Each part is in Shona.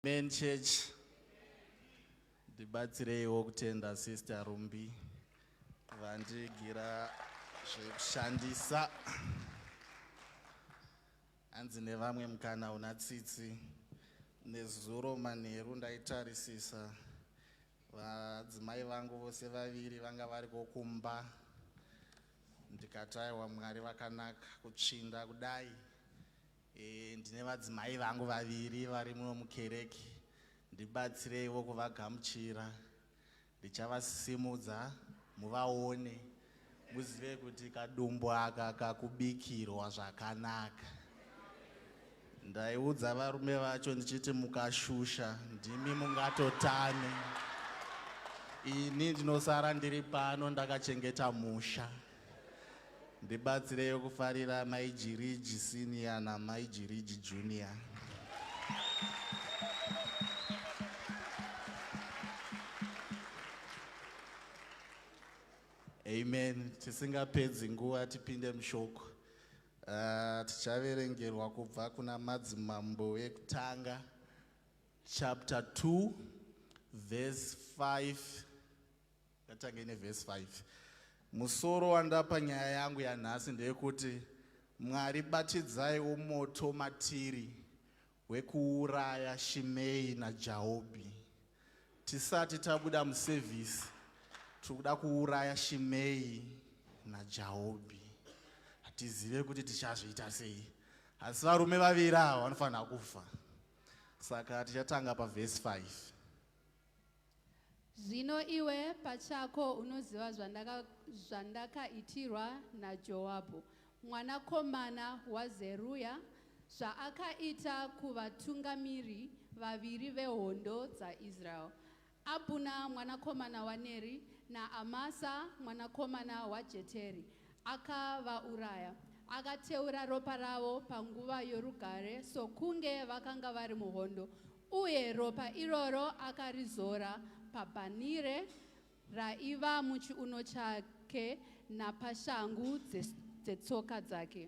Amen church. Ndibatsireiwo kutenda sister Rumbi vandigira zvekushandisa. Hanzi nevamwe mukana una tsitsi. Nezuro manheru ndaitarisisa Vadzimai vangu vose vaviri vanga variko kumba ndikati aiwa Mwari vakanaka kutsvinda kudai e, ndine vadzimai vangu vaviri vari muno mukereke ndibatsireiwo kuvagamuchira ndichavasimudza muvaone Muzive kuti kadumbu aka kakubikirwa zvakanaka. Ndaiudza varume vacho ndichiti mukashusha ndimi mungatotane. Ini ndinosara ndiri pano ndakachengeta musha. Ndibatsireyo kufarira mai Jiriji senior namai Jiriji junior. Amen. Tisingapedzi nguva tipinde mushoko. Uh, tichaverengerwa kubva kuna madzimambo vekutanga chapter 2 verse 5 ngatange neverse 5 musoro wandapa nyaya yangu yanhasi ndeyekuti mwari batidzaiwo moto matiri hwekuuraya Shimei naJaobi. Tisati tabuda muservice tiri kuda kuuraya Shimei naJaobi. Hatizive kuti tichazviita sei, asi varume vaviri ava vanofanira kufa. Saka tichatanga pavhesi 5. Zvino iwe pachako unoziva zvandaka, zvandakaitirwa naJoabhu mwanakomana waZeruya, zvaakaita kuvatungamiri vaviri vehondo dzaIsraeri, Abhuna mwanakomana waNeri naAmasa mwanakomana waJeteri, Akavauraya. Akateura ropa ravo panguva yorugare sokunge vakanga vari muhondo, uye ropa iroro akarizora pabhanire raiva muchiuno chake napashangu dzetsoka dzake.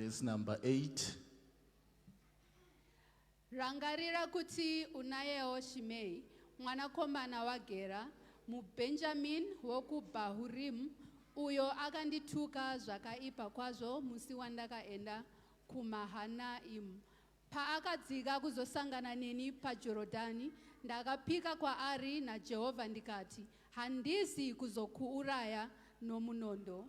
Verse number 8. Rangarira kuti unayewo Shimei mwanakomana waGera muBhenjamini wokuBhahurimu uyo akandituka zvakaipa kwazvo musi wandakaenda kuMahanaimu. Paakadzika kuzosangana neni paJorodhani, ndakapika kwaari naJehovha ndikati, Handizi kuzokuuraya nomunondo.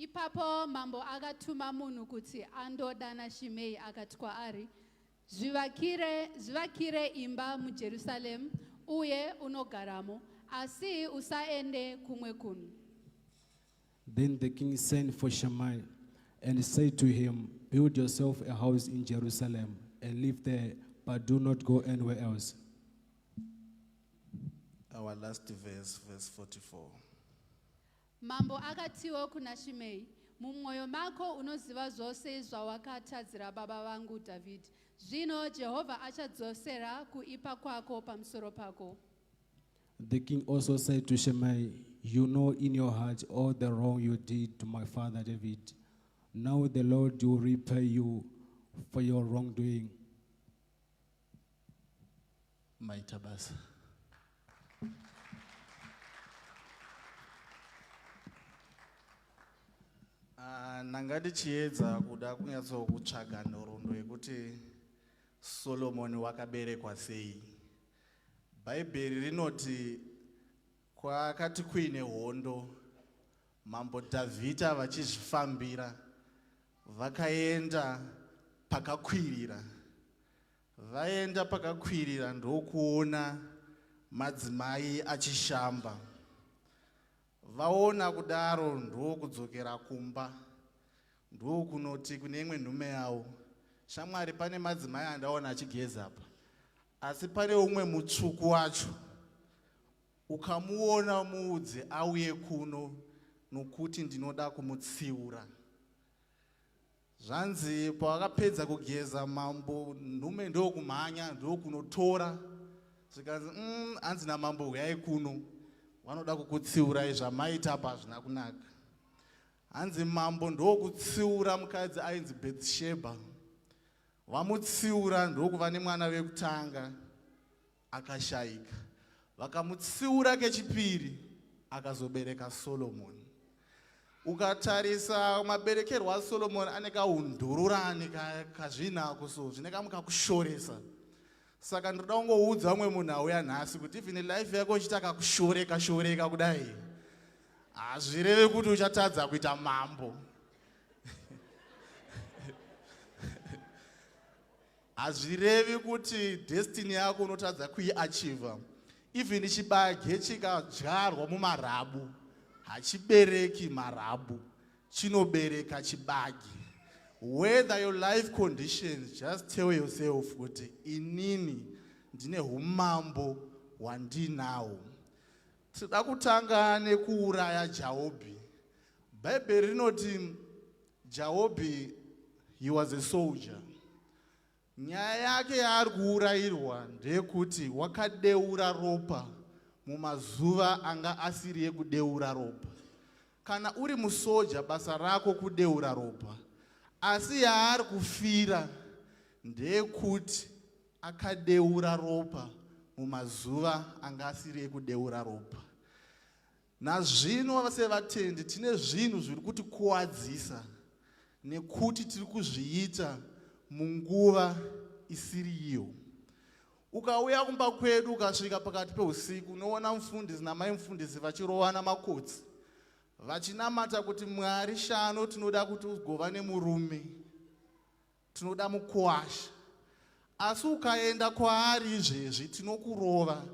Ipapo mambo akatuma munhu kuti andodana Shimei akati kwaari, zvivakire, zvivakire imba muJerusaremu uye unogaramo, asi usaende kumwe kunhu. Then the king sent for Shammai and said to him, Build yourself a house in Jerusalem and live there, but do not go anywhere else. Our last verse, verse 44. Mambo akatiwo kuna Shimei, mumwoyo mako unoziva zvose zvawakatadzira baba vangu Dhavhidhi. Zvino Jehovha achadzosera kuipa kwako pamusoro pako. The king also said to Shimei, You know in your heart all the wrong you did to my father David. Now the Lord will repay you for your wrongdoing. maita basa ah, ndanga ndichiedza kuda kunyatsokutsvaga nhoroondo yekuti solomoni wakaberekwa sei bhaibheri rinoti kwakati kuine hondo mambo dhavhidha vachizvifambira vakaenda pakakwirira Vaenda pakakwirira ndokuona madzimai achishamba. Vaona kudaro ndokudzokera kumba ndokunoti kune imwe nhume yawo, shamwari, pane madzimai andaona achigeza apa, asi pane umwe mutsvuku wacho ukamuona muudze auye kuno nokuti ndinoda kumutsiura. Zvanzi pavakapedza kugeza mambo nhume ndokumhanya ndokunotora zvikanzi mm, hanzi namambo huyai kuno vanoda kukutsiurai zvamaita apa hazvina kunaka hanzi mambo ndokutsiura mukadzi ainzi bethsheba vamutsiura ndokuva nemwana vekutanga Akashaika. Vakamutsiura kechipiri akazobereka Solomoni. Ukatarisa maberekerwo aSolomoni ane kaundururani kazvinako so zvine kamwe kakushoresa. Saka ndinoda kungoudza vamwe munhu auya nhasi kuti even life yako ichita kakushoreka shoreka kudai hazvireve kuti uchatadza kuita mambo. Hazvirevi kuti destiny yako unotadza kuiachiva. Even chibage chikadyarwa mumarabu hachibereki marabu, chinobereka chibage. Whether your life conditions, just tell yourself kuti inini ndine humambo hwandinawo. Tinoda kutanga nekuuraya Jaobhi. Bhaibheri rinoti Jaobhi he was a soldier. Nyaya yake yaari kuurayirwa ndeyekuti wakadeura ropa mumazuva anga asiri ekudeura ropa. Kana uri musoja basa rako kudeura ropa. Asi yaari kufira ndeyekuti Akadeura ropa mumazuva anga asiri ekudeura ropa. Nazvino sevatendi tine zvinhu zviri kutikuwadzisa nekuti tiri kuzviita munguva isiri iyo. Ukauya kumba kwedu ukasvika pakati peusiku unoona mufundisi namai mufundisi vachirovana makotsi vachinamata kuti Mwari shano tinoda kuti ugova nemurume. Tinoda mukuwasha. Asi ukaenda kwaari izvezvi tinokurova.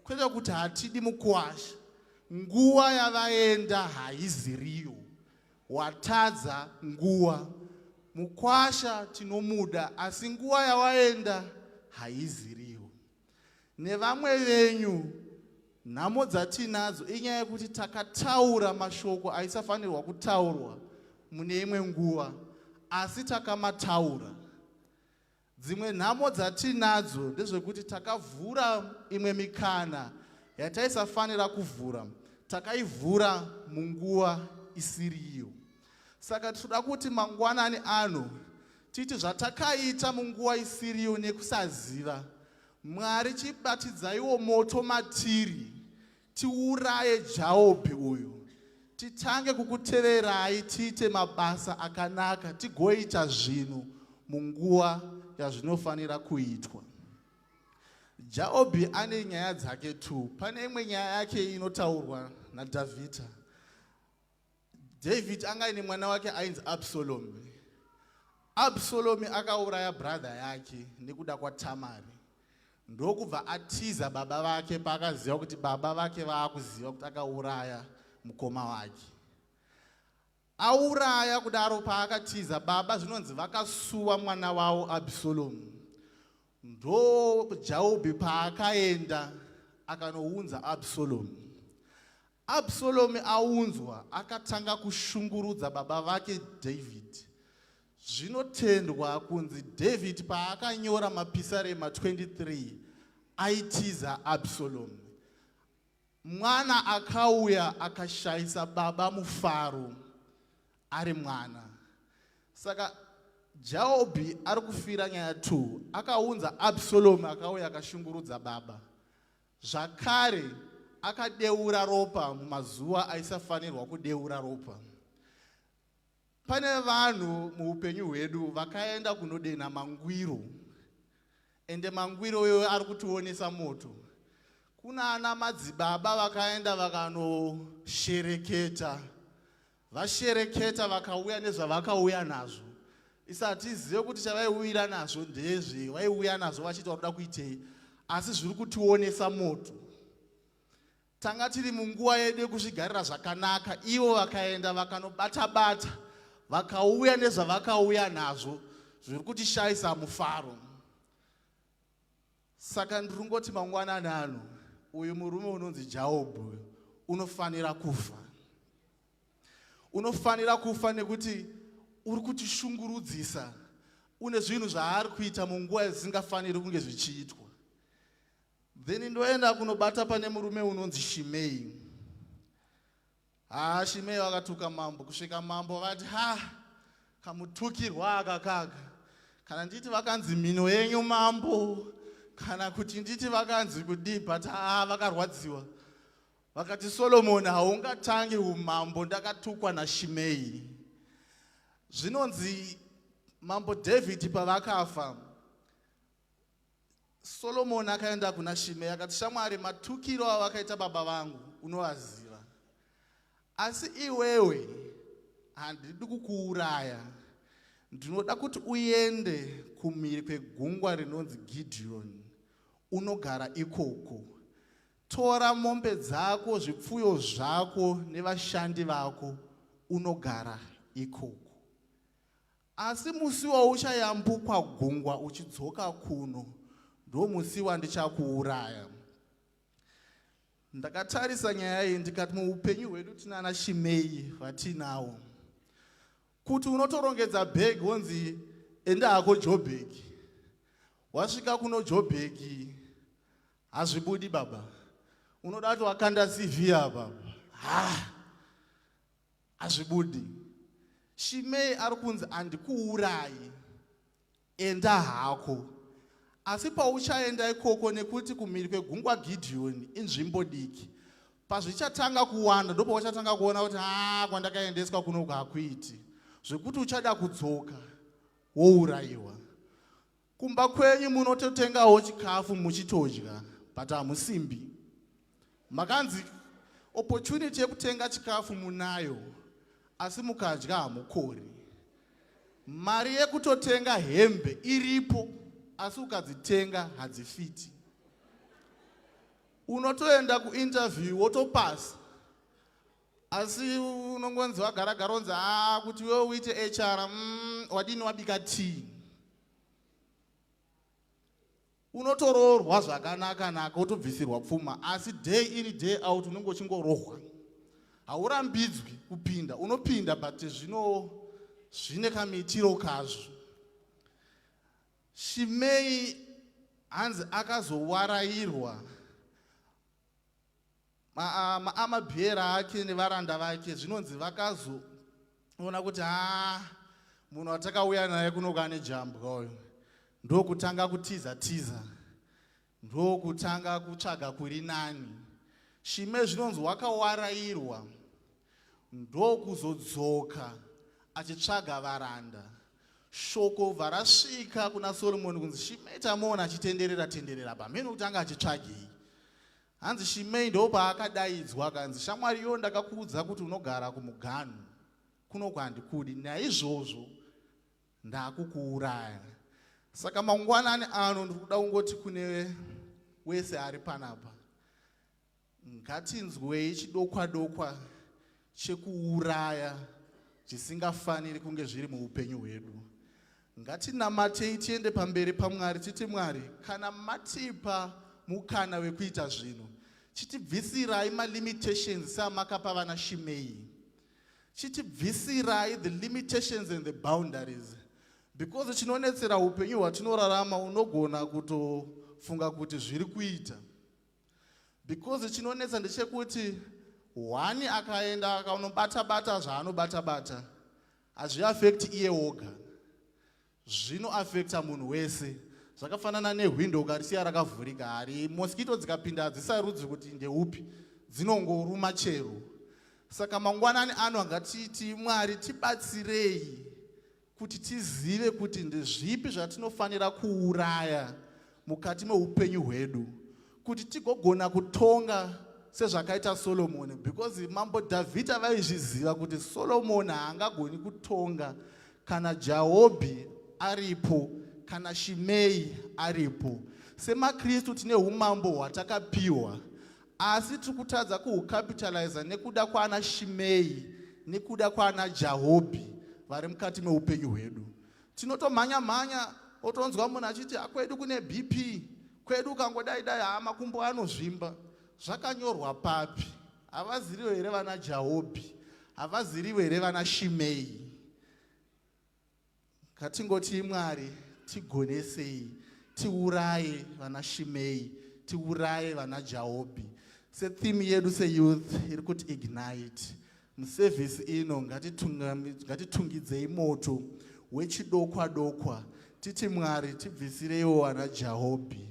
Kwete kuti hatidi mukuwasha. Nguva yavaenda haiziriyo. Watadza nguva. Mukwasha tinomuda asi nguva yawaenda haiziriyo. nevamwe venyu nhamo dzatiinadzo inyaya yekuti takataura mashoko aisafanirwa kutaurwa mune imwe nguva asi takamataura dzimwe nhamo dzatiinadzo ndezvekuti takavhura imwe mikana yataisafanira kuvhura takaivhura munguva isiriyo Saka tinoda kuti mangwanani ano titi zvatakaita munguva isiriyo nekusaziva mwari chibatidzaiwo moto matiri tiuraye jaobhi uyu titange kukuteverai tiite mabasa akanaka tigoita zvinhu munguva yazvinofanira kuitwa jaobhi ane nyaya dzake two pane imwe nyaya yake inotaurwa nadhavhidha David anga ine mwana wake ainzi Absalomi. Absalomi akauraya brother yake nekuda kwaTamari. Ndokubva atiza baba vake paakaziva kuti baba vake vaakuziva kuti akauraya mukoma wake. Auraya kudaro paakatiza baba zvinonzi vakasuwa mwana wavo Absalomi. Ndo Jaobi paakaenda akanounza Absalomi. Absalomi aunzwa, akatanga kushungurudza baba vake Dhavhidhi. Zvinotendwa kunzi Dhavhidhi paakanyora mapisarema 23 aitiza Absalomi. Mwana akauya akashayisa baba mufaro ari mwana. Saka Jaobhi ari kufira nyaya 2 akaunza Absalomi akauya akashungurudza baba. Zvakare, akadeura ropa mumazuva aisafanirwa kudeura ropa. Pane vanhu muupenyu hwedu vakaenda kunodenha mangwiro, ende mangwiro iyoyo ari kutionesa moto. Kuna ana madzibaba vakaenda vakanoshereketa Vashereketa vakauya nezvavakauya nazvo isi hatizive kuti chavaiuyira nazvo ndezve vaiuya nazvo vachiti vakuda kuitei asi zviri kutionesa moto tanga tiri munguva yedu yekuzvigarira zvakanaka ivo vakaenda vakanobata bata vakauya nezvavakauya nazvo zviri kutishayisa mufaro Saka ndirungoti mangwanani ano uyu murume unonzi Jaobhu uyu unofanira kufa. Unofanira kufa nekuti uri kutishungurudzisa une zvinhu zvaari kuita munguva isingafaniri kunge zvichiitwa. Then ndoenda kunobata pane murume unonzi Shimei. Haa Shimei vakatuka mambo kusvika mambo vati ha kamutukirwa aka kaka kana nditi vakanzi mhino yenyu mambo kana kuti nditi vakanzi kudii but haa vakarwadziwa vakati Solomoni haungatangi umambo ndakatukwa naShimei zvinonzi mambo David pavakafa Solomoni akaenda kuna Shimei akati, Shamwari, matukiro awakaita baba vangu unovaziva, asi iwewe handidi kukuuraya. Ndinoda kuti uende kumhiri kwegungwa rinonzi Gidhiyoni unogara ikoko. Tora mombe dzako, zvipfuyo zvako nevashandi vako unogara ikoko. Asi musi wauchayambukwa gungwa uchidzoka kuno ndomusi wandichakuuraya. Ndakatarisa nyaya iyi ndikati muupenyu hwedu tinana Shimei vatinawo. Kuti unotorongedza bhegi wonzi enda hako Joburg. Wasvika kuno Joburg hazvibudi baba. Unoda kuti wakanda CV apa. Ha! Hazvibudi. Shimei ari kunzi handikuurayi. Enda hako. Asi pauchaenda ikoko nekuti kumhiri kwegungwa Gideoni inzvimbo diki. Pazvichatanga kuwanda ndopauchatanga kuona kuti haa kwandakaendeswa kunoku hakuiti. Zvekuti uchada kudzoka wourayiwa. Kumba kwenyu munototengawo chikafu muchitodya but hamusimbi. Makanzi opportunity yekutenga chikafu munayo asi mukadya hamukori. Mari yekutotenga hembe iripo asi ukadzitenga hadzifiti. Unotoenda kuinterview wotopasa asi unongonzi wagara garonzi haa kuti wewe uite hr mm, wadini wabika tea unotoroorwa zvakanaka naka wotobvisirwa pfuma asi day iri day out unenge uchingorohwa haurambidzwi kupinda unopinda but zvino zvine kamiitiro kazvo shimei hanzi akazowarairwa Ma, ma, amabhiera ake nevaranda vake zvinonzi vakazoona kuti haa munhu watakauya naye kunoku ane jambwa uyu ndokutanga kutiza tiza ndokutanga kutsvaga kuri nani shime zvinonzi wakawarairwa ndokuzodzoka achitsvaga varanda shoko bva rasvika kuna soromoni kunzi shimeta moona achitenderera tenderera pamheno kuti anga achitsvagei Hanzi Shimei ndopaakadaidzwa akanzi, shamwari yo ndakakuudza kuti unogara kumuganhu kuno kwandikudi, naizvozvo ndakukuuraya. Saka mangwanani ano ndikuda kungoti kune wese ari panapa, ngatinzwei chidokwadokwa chekuuraya zvisingafaniri kunge zviri muupenyu hwedu. Ngatinamatei tiende pamberi paMwari titi, Mwari, kana matipa mukana wekuita zvinhu, chitibvisirai malimitations seamakapa vana Shimei. Chitibvisirai the limitations and the boundaries because chinonetsera upenyu hwatinorarama unogona kutofunga kuti zviri kuita because chinonetsa ndechekuti hwani akaenda akaunobata bata zvaanobata bata Hazviaffect iye woga, zvinoaffecta munhu wese. Zvakafanana nehwindo ukarisiya rakavhurika, hari mosquito dzikapinda hadzisarudzi kuti ndeupi, dzinongoruma chero. Saka mangwanani ano ngatiti Mwari tibatsirei kuti tizive kuti ndezvipi zvatinofanira kuuraya mukati meupenyu hwedu kuti tigogona kutonga sezvakaita solomoni because mambo dhavhidha vaizviziva kuti solomoni haangagoni kutonga kana jahobhi aripo kana shimei aripo semakristu tine umambo hwatakapiwa asi tiri kutadza kuhucapitaliza nekuda kwaana shimei nekuda kwaana jahobhi vari mukati meupenyu hwedu Tinotomhanya mhanya otonzwa munhu achiti akwedu ah, kune BP kwedu ukangodai dai haa makumbo anozvimba zvakanyorwa papi havaziriwo here vana jaobi havaziriwo here vana shimei ngatingotii mwari tigonesei tiuraye vana shimei tiuraye vana jaobi setheme yedu seyouth iri kuti ignite Muservice ino ngatitungidzei moto wechidokwa dokwa titi Mwari tibvisireiwo wana Jahobhi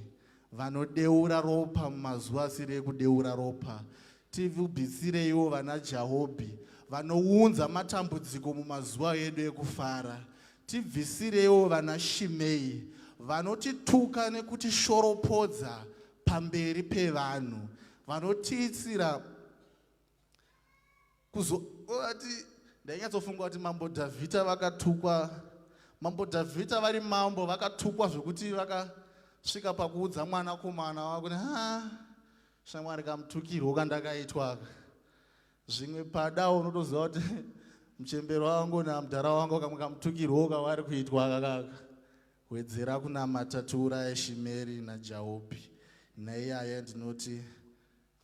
vanodeura ropa mumazuva asiri ekudeura ropa tivubisireiwo vana jahobhi vanounza matambudziko mumazuva edu ekufara tibvisireiwo vana shimei vanotituka nekutishoropodza pamberi pevanhu vanotiitsira kuzoati ndainyatsofunga kuti mambo dhavhidha vakatukwa mambo dhavhidha vari mambo vakatukwa zvekuti vakasvika pakuudza mwanakomana wakuti ha shamwari kamutukirwo kandakaitwaka zvimwe pada unotoziva kuti muchembero wangu namudhara wangu kamwe kamutukirwo kavari kuitwa kakaka wedzera kunamata tiuraya shimeri najaopi naiyaya ndinoti